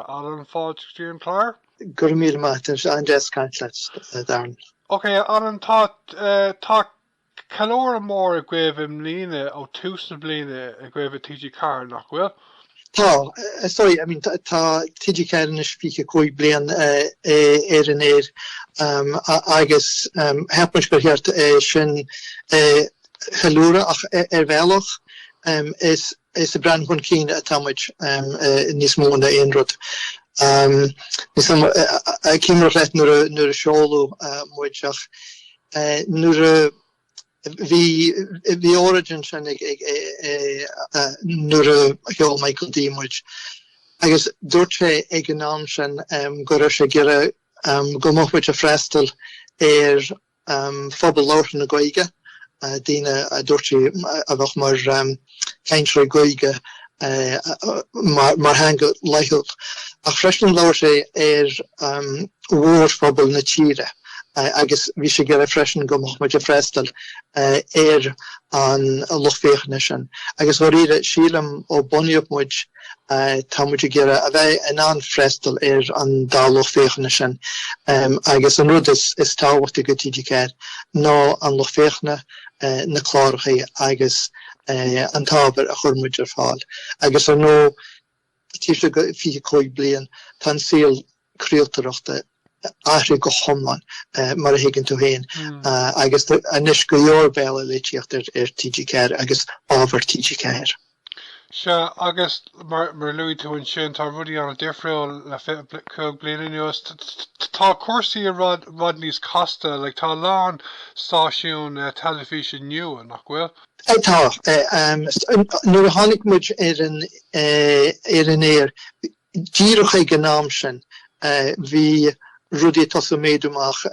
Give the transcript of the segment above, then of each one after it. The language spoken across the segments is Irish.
Alan, fáilte go dtí an clár. Go raibh míle maith agat. An-deas caint leat, Darren. Ok, Alan, tá tá ceiliúradh mór agaibh i mbliana ó tús na bliana agaibh i TG4, nach bhfuil? Tá, sorry, I mean tá TG4 anois 25 bliain ar an aer agus cheap muid gur cheart é sin a cheiliúradh ach ar bhealach is Is ag breathnú chun cinn atá muid níos mó ná aon rud. Cuimhním ar ndóigh nuair a seoladh muid ach nuair a bhí óráid ansin nuair a sheol Michael D muid agus dúirt sé ag an am sin go raibh sé ag iarraidh go mbeadh muid ag freastal ar phobal labhartha na Gaeilge, daoine a dúirt sé a bheadh mar chainteoirí Gaeilge mar theanga laethúil, ach freisin labhair sé ar mhórphobal na tíre agus bhí sé ag iarraidh freisin go mbeadh muid ag freastal ar an lucht féachana sin agus dháiríre sílim ó bunaíodh muid tá muid ag iarraidh a bheith in ann freastal ar an dá lucht féachana sin agus an rud is tábhachtaí do TG4 ná an lucht féachana, na cláracha agus an t-ábhar a chuireann muid ar fáil. Agus ar ndóigh, taobh istigh de 25 bliain, tá an saol craoltóireachta athraithe go hiomlán, mar a thuigeann tú féin, agus anois go leor bealaí le tíocht ar TG4 agus ábhar TG4. Sea, agus mar a luaigh tú ansin, tá rudaí an-difriúil le fiche cúig bliana anuas. Tá cúrsaí i bhfad níos casta, tá a lán stáisiún teilifíse nua, nach bhfuil? Tá. Nuair a tháinig muid ar an aer, díreach ag an am sin bhí rudaí ag tosú méadú amach.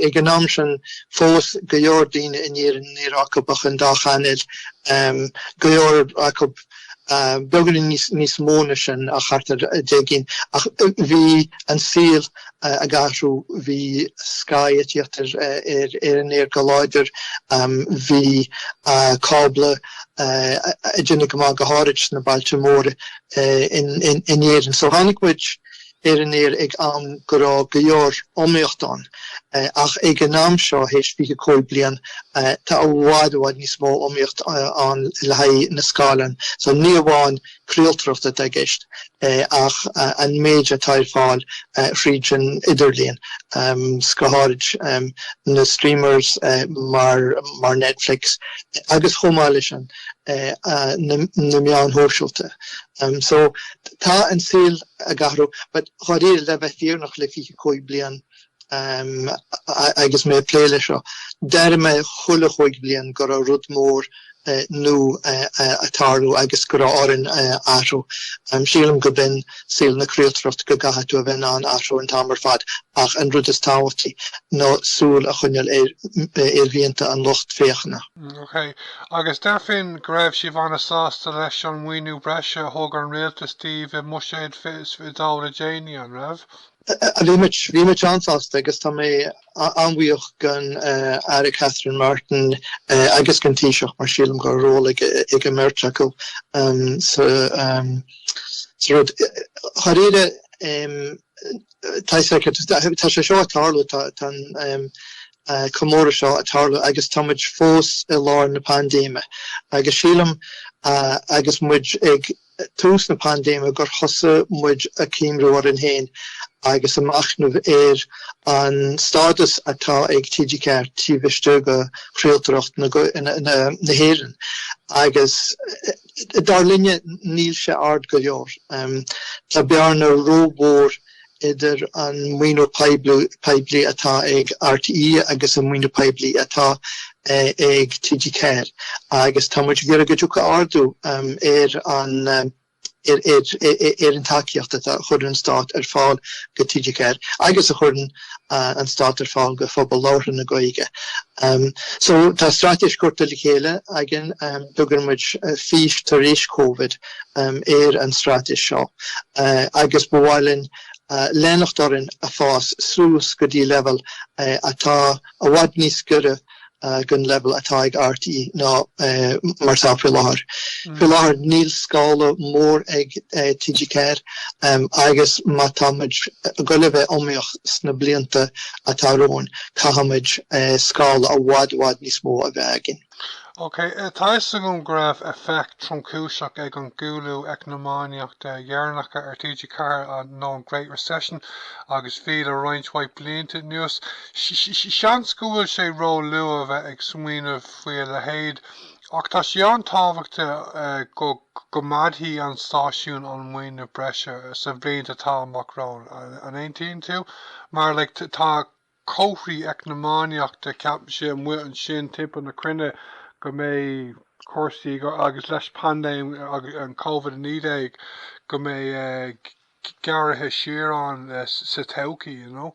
Ag an am sin fós go leor daoine in Éirinn ní raibh acu ach an dá chainéal, go leor acu beagáinín níos mó na sin ach thart ar 10 gcinn. Ach bhí an saol ag athrú, bhí Sky ag tíocht ar an aer go láidir, bhí cábla ag déanamh go maith go háirid sna bailte móra. in Éirinn. So tháinig muid ar an aer ag am go raibh go leor iomaíocht ann ach ag an am seo théis fiche cúig bliain tá i bhfad i bhfad níos mó iomaíocht ann le haghaidh na scáileán. So ní amháin craoltóireacht atá i gceist ach an méid atá ar fáil thríd an idirlíon go háirid na streamers mar Netflix agus chomh maith leis an na meáin shóisialta. So tá an saol ag athrú but dháiríre le bheith fírinneach le fiche cúig bliain agus mé ag plé le seo d'airigh mé chuile chúig bhliain go raibh rud mór nua ag tarlú agus go raibh orainn athrú. Sílim gob in saol na craoltóireachta go gcaithfidh tú a bheith in ann athrú an t-am ar fad ach an rud is tábhachtaí ná súil a choinneáil ar mhianta an lucht féachana. OK. Agus deirfinn go raibh sibh an-sásta leis an maoiniú breise a thug an Rialtas daoibh i mBuiséad le déanaí, an raibh? Bhí muid, bhí muid an-sásta agus tá mé an-bhuíoch gon Aire Catherine Martin agus gon Taoiseach mar sílim go raibh ról ag an mbeirt acu sa rud. Dháiríre, tá sé seo ag tarlú, tá an, comóradh seo ag tarlú agus tá muid fós i lár na paindéime agus sílim agus muid ag tús na paindéime gur thosaigh muid ag cuimriú orainn féin agus ag machnamh ar an stádas atá ag TG4 taobh istigh go chraoltóireacht na hÉireann agus dar linne níl sé ard go leor. Tá bearna rómhór idir an maoiniú poiblí atá ag RTÉ agus an maoiniú poiblí atá ag TG4 agus tá muid ag iarraidh go dtiocfadh ardú ar an ar an tacaíocht atá a chuireann an Stát ar fáil go TG4 agus a chuireann an Stát ar fáil go phobal labhartha na Gaeilge. So tá straitéis curtha le chéile againn, tugann muid fís tar éis Covid, ar an straitéis seo agus ba mhaith linn leanacht orainn ag fás suas go dtí leibhéal atá i bhfad níos goire gon leibhéal atá ag RTÉ ná mar atá faoi láthair. Faoi láthair níl scála mór ag TG4 agus má tá muid goil a bheith iomaíoch sna blianta atá romhainn, caithfimid scála i bhfad i bhfad níos mó a bheith againn. OK, tá 'fhios agam go raibh éifeacht tromchúiseach ag an gcúlú eacnamaíochta dheireanacha ar TG4, nó an Great Recession agus bhí le roinnt mhaith blianta anuas. Seans go bhfuil sé ró luath a bheith ag smaoineamh faoi a leithéid ach tá sé an-tábhachtach go gcoimeádfaí an stáisiún an maoiniú breise sna blianta atá amach romhainn, an aontaíonn tú? Mar like tá. comharthaí eacnamaíochta, cad a cheapann sé amuigh ansin timpeall na cruinne go mbeidh cúrsaí, agus leis paindéim an Covid-19, go mbeidh gearradh siar ann sa todhchaí, you know.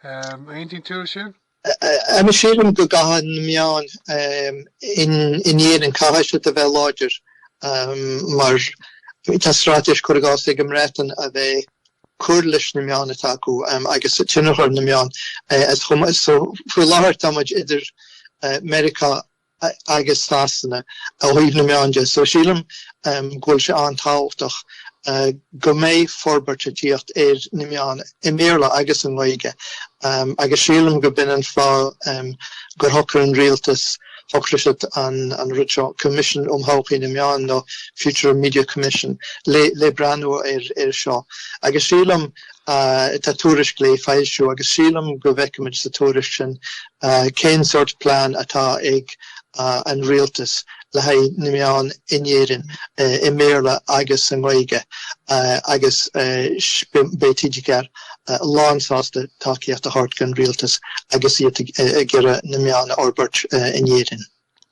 Aontaíonn tú le sin? Em, sílim go gcaithfidh na meáin in Éirinn, caithfidh siad a bheith láidir, em, mar tá straitéis, cur i gcás, ag an mBreatain a bheith, cur leis na meáin atá acu agus tionchar na meán. So faoi láthair táimid idir Meiriceá agus Sasana ó thaobh na meán de so sílim go bhfuil sé an-tábhachtach go mbeidh forbairt ag tíocht ar na meáin i mBéarla agus i nGaeilge agus sílim go b'in an fáth gur shocair an rialtas tacaíocht don rud seo, Coimisiún um Thodhchaí na Meán nó Future of Media Commission, le breathnú ar seo. Agus sílim, tá tuairisc le foilsiú, agus sílim go bhfeicfimid sa tuairisc sin cén sórt plean atá ag an Rialtas le haghaidh na meán in Éirinn, i mBéarla agus i nGaeilge, agus beidh TG Ceathair lánsásta tacaíocht a thabhairt don rialtas agus iad ag iarraidh na meáin a fhorbairt in Éirinn.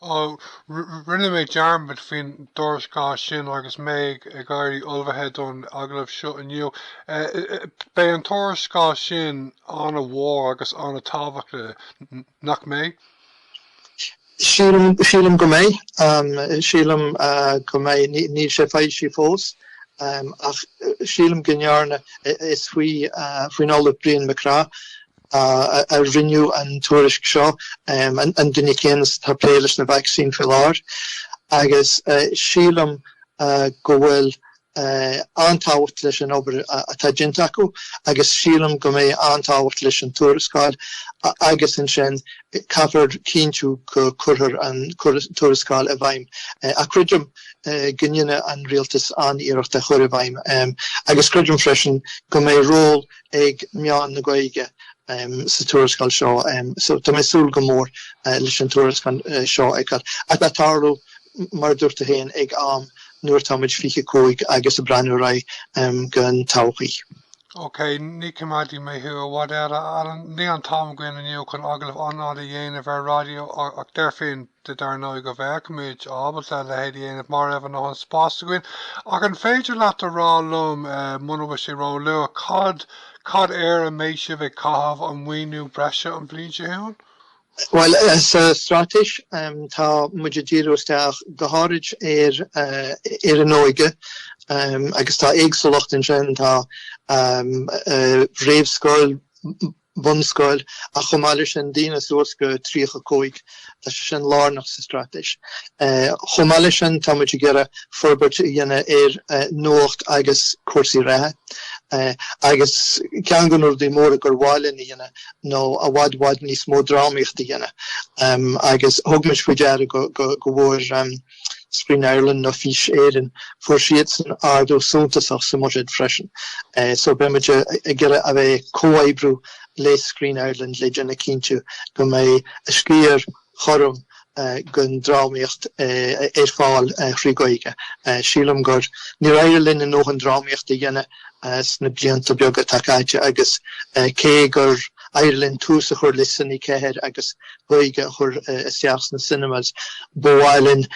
Rinne mé dearmad faoin dtuarascáil sin agus mé ag éirí ullamh don agallamh seo inniu. Beidh an tuarascáil sin an-mhór agus an-tábhachtach, nach mbeidh? Sílim, sílim go mbeidh. Sílim go mbeidh. Níl sé foilsithe fós ach sílim go ndearna. Is faoi, faoin Ollamh Brian MacCraith a rinneadh an tuairisc seo, an duine céanna is atá ag plé leis na vacsaín faoi láthair, agus sílim go bhfuil. An-tábhacht leis an obair atá déanta acu agus sílim go mbeidh an-tábhacht leis an tuarascáil agus ansin caithfear cinntiú go gcuirfear an tuarascáil i bhfeidhm ach creidim go ndéanfaidh an Rialtas an-iarracht é a chur i bhfeidhm agus creidim freisin go mbeidh ról ag meáin na Gaeilge sa tuarascáil seo so tá mé ag súil go mór leis an tuarascáil seo a fheiceáil ach tá sé ag tarlú mar a dúirt tú féin ag am nuair atá muid fiche cúig agus ag breathnú ar aghaidh don todhchaí. OK, ní choimeádfaidh mé thú i bhfad eile, a Alan. Níl an t-am againn inniu chun agallamh an-fhada a dhéanamh ar raidió, ach deirfínn duit, dar ndóigh, go mbeimis ábalta a leithéid a dhéanamh dá mbeadh an dóthain spáis againn. Ach an féidir leat a rá liom, muna bhfuil sé ró-luath, cad, cad air a mbeidh sibh ag caitheamh an maoiniú breise an bhliain seo chugainn? Bhuel, sa Straitéis tá muid ag díriú isteach go háirid ar an óige agus tá éagsúlacht ansin, tá réamhscoil, bunscoil ach chomh maith leis sin daoine suas go 35, tá sé sin lárnach sa Straitéis. Chomh maith leis sin tá muid ag iarraidh forbairt a dhéanamh ar nuacht agus cúrsaí reatha agus ceann de na rudaí móra gur mhaith linn a dhéanamh nó i bhfad i bhfad níos mó drámaíocht a dhéanamh agus thug muid faoi deara go bhfuair Screen Ireland nó Fís Éireann, fuair siadsan ardú suntasach sa mbuiséad freisin so beidh muid ag iarraidh a bheith ag comhoibriú le Screen Ireland le déanamh cinnte go mbeidh a sciar cothrom den drámaíocht ar fáil thrí Ghaeilge. Sílim gur níor éirigh linn ár ndóthain drámaíochta a dhéanamh sna blianta beaga atá caite agus cé gur éirigh linn tús a chur le Cine 4 agus Gaeilge a chur isteach sna cinemas, ba mhaith linn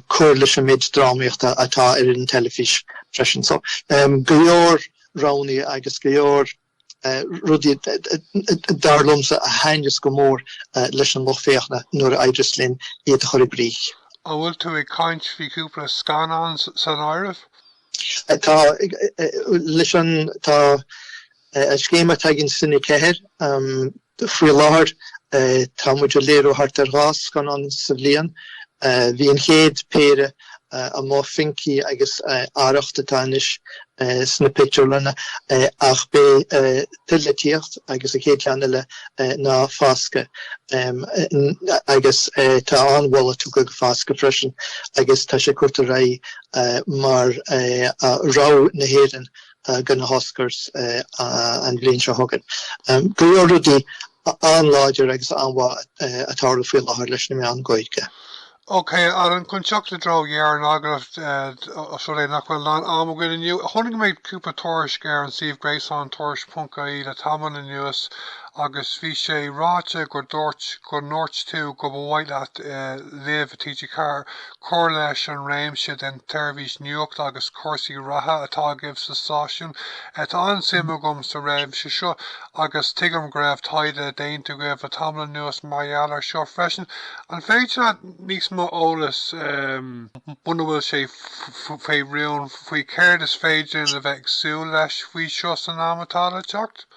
cur leis an méid drámaíochta atá ar an teilifís freisin. So, go leor roghannaí agus go leor. rudaí, dar liomsa, a thaitneos go mór leis an lucht féachana nuair a éireos linn iad a chur i gcrích. An bhfuil tú ag caint faoi chúpla scannán san áireamh? Tá, leis an scéim atá againn Cine 4. Faoi láthair, tá muid ag léiriú thart ar dhá scannán sa bhliain. Bhí an chéad péire amuigh, Finky agus Arracht atá anois sna pictiúrlanna, ach beidh tuilleadh ag tíocht agus an chéad cheann eile ná Foscadh, agus tá an-mholadh tugtha do Foscadh freisin agus tá sé curtha ar aghaidh mar rogha na hÉireann do na hOscars an bhliain seo chugainn. Go leor rudaí an-láidir agus an-mhaith ag tarlú faoi láthair leis na meáin Ghaeilge. OK, Alan, chun teacht i dtreo dheireadh an agallaimh, os rud é nach bhfuil a lán ama againn inniu, tháinig mé ar chúpla tuairisc ar an suíomh gréasáin Tuairisc.ie le tamall anuas agus bhí sé ráite go ndúirt go ndúirt tú go mba mhaith leat léamh i TG4 cur leis an réimse den tseirbhís nuachta agus cúrsaí reatha atá agaibh sa stáisiún. Tá an-suim agam sa réimse seo agus tuigim go raibh taighde déanta agaibh le tamall anuas mar gheall air seo freisin. An féidir níos mó eolas, muna bhfuil sé faoi rún, faoi céard is féidir linn a bheith ag súil leis faoi seo san am atá le teacht?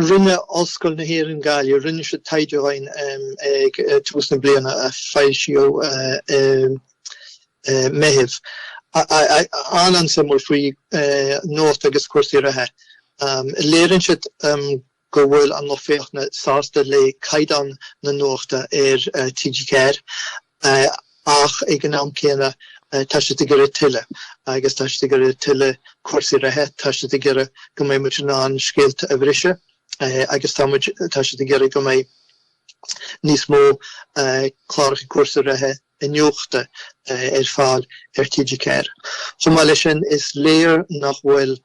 Rinne Ollscoil na hÉireann Gaillimh, rinne siad taighde dhúinn ag tús na bliana a foilsíodh i Meitheamh, an-an-suimiúil, faoi nuacht agus cúrsaí reatha. Léiríonn siad go bhfuil an lucht féachana sásta le caighdeán na nuachta ar TG4 ach ag an am céanna tá siad ag iarraidh tuilleadh agus tá siad ag iarraidh tuilleadh cúrsaí reatha, tá siad ag iarraidh go mbeidh muid in ann scéalta a bhriseadh agus tá muid, tá siad ag iarraidh go mbeidh níos mó cláracha cúrsaí reatha iniúchta ar fáil ar TG4. Chomh maith leis sin, is léir nach bhfuil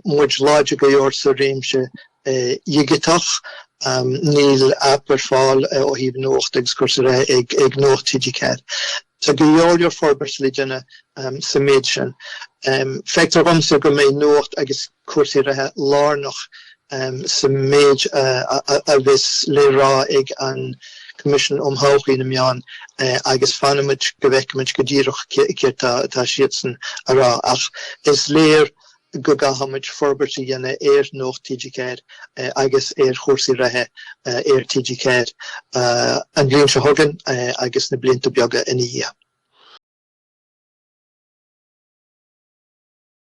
muid láidir go leor sa réimse dhigiteach. Níl aip ar fáil ó thaobh nuacht agus cúrsaí reatha ag Nuacht TG4. Tá go leor leor forbairt le déanamh sa méid sin. Feictear dhomsa go mbeidh nuacht agus cúrsaí reatha lárnach sa méid a bheas le rá ag an Coimisiún um Thodhchaí na Meán agus fanfaimid go bhfeicfimid go díreach céard tá siadsan a rá ach is léir go gcaithfimid forbairt a dhéanamh ar Nuacht TG4 agus ar chúrsaí reatha ar TG4 an bhliain seo chugainn agus sna blianta beaga ina dhiaidh.